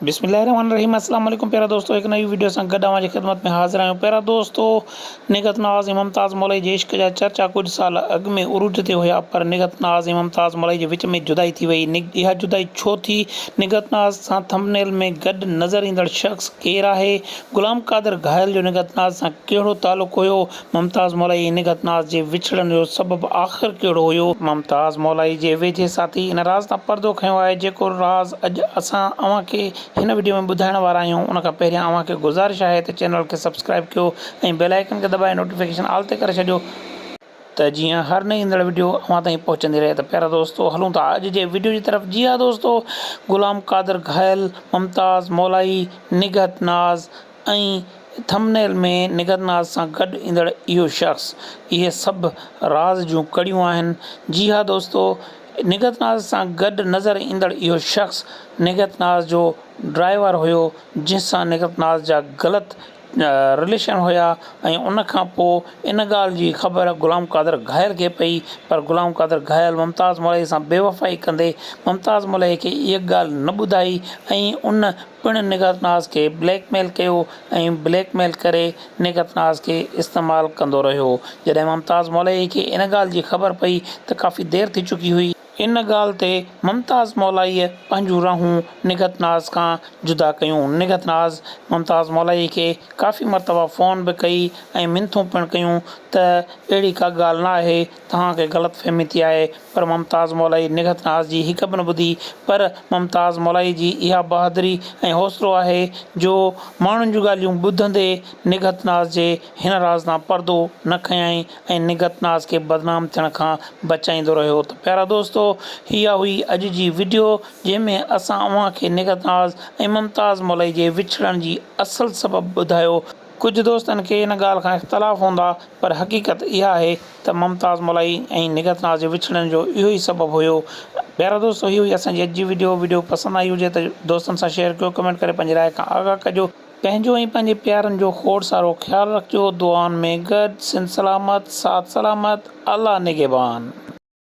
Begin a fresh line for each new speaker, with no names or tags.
بسم الله الرحمن الرحيم السلام عليڪم پيارا دوستو هڪ نئين ويڊيو سان گڏ اوهان جي خدمت ۾ حاضر آهيون پيارا دوستو نگهت نوازي ممتاز مولائي جي عشق جا چرچا ڪجهه سال اڳ ۾ عروج تي هيا پر نگهت ناز ۽ ممتاز مولائي جي وچ ۾ جدائي ٿي وئي اها جدائي ڇو ٿي نگهت ناز سان ٿمبنيل ۾ گڏ نظر ايندڙ شخص ڪير آهي غلام قادر گهايل جو نگهت ناز سان ڪهڙو تعلق هيو ممتاز مولائي هن گتناز جي وڇڙڻ جو سبب آخر ڪهڙو هيو؟ ممتاز مولائي جي ويجهي ساٿي ان راز تان پردو کنيو آهي جيڪو راز اڄ اسان اوهان کي هن وڊيو ۾ ٻڌائڻ وارا آهيون ان کان پهريان اوهان کي گذارش آهي ته چينل کي سبسڪرائيب ڪيو ۽ بيل آئيڪن کي دٻائي نوٽيفڪيشن آل تي ڪري ڇڏيو ته جيئن هر نئين ايندڙ وڊيو اوهان تائين پهچندي رهي ته پيارا دوستو هلون ٿا اڄ جي وڊيو جي طرف جي ها دوستو غلام قادر گهايل ممتاز مولائي نگهت ناز ۽ ٿم نيل ۾ نگر ناز سان گڏ ايندڙ اهو شخص اهي سڀ راز جون ڪڙيون آهن جي ها دوستو نگهت ناز سان گڏ نظر ايندڙ اهو شخص نگهت ناز جو ڊرائيور هيو جنهن سان نگهت ناز جا غلط رليشن هيا ۽ ان کان پو ان ڳالهه جي خبر غلام قادر گهايل کي پئي پر غلام قادر گهايل ممتاز ملئي سان بيوفائي ڪندي ممتاز ملئي کي اهي ڳالهه نه ٻڌائي ۽ ان پڻ نگهت ناز کي بليڪ ميل ڪيو ۽ بليڪ ميل ڪري نگهت ناز کي استعمال ڪندو رهيو جڏهن ممتاز مولائي کي ان ڳالهه جي خبر پئي ته ڪافي دير ٿي چڪي هئي. ان ڳالهه تي ممتاز مولائي پنهنجون راهون نگهت ناز کان جدا ڪيون نگهت ناز ممتاز مولائي کي ڪافي مرتبا فون به ڪئي ۽ منٿون پڻ ڪيون ته اهڙي ڪا ڳالهه نه آهي توهان کي غلط فهمي ٿي آهي پر ممتاز مولائي نگهت ناز جي هڪ به نه ٻڌي پر ممتاز مولائي جي اها بهادري ۽ حوصلو آهي جو ماڻهن جون ڳالهيون ٻڌندي نگهت ناز جي هن راز تان پردو نه کنيائين ۽ نگهت ناز کي بدنام ٿيڻ کان بچائيندو رهيو ته پيارا دوستو اها هئي اڄ جي وڊيو جنهن ۾ اسان اوهان کي نگهت ناز ۽ ممتاز مولائي جي وڇڙڻ جي اصل سبب ٻڌايو ڪجهه دوستن کي ان ڳالهه کان اختلاف هوندا پر حقيقت اها آهي ته ممتاز ملائي ۽ نگهت ناز جي وڇڙڻ جو اهو ئي سبب هيو پيارا دوستو هي هئي اسان جي اڄ جي وڊيو وڊيو پسند آئي هجي ته دوستن سان شيئر ڪيو ڪمينٽ ڪري پنهنجي راء کان آگاهه ڪجو پنهنجو ۽ پنهنجي پيارن جو کوڙ سارو خيال رکجو دعائن ۾ گڏ سنڌ سلامت ساٿ سلامت الله نگهبان.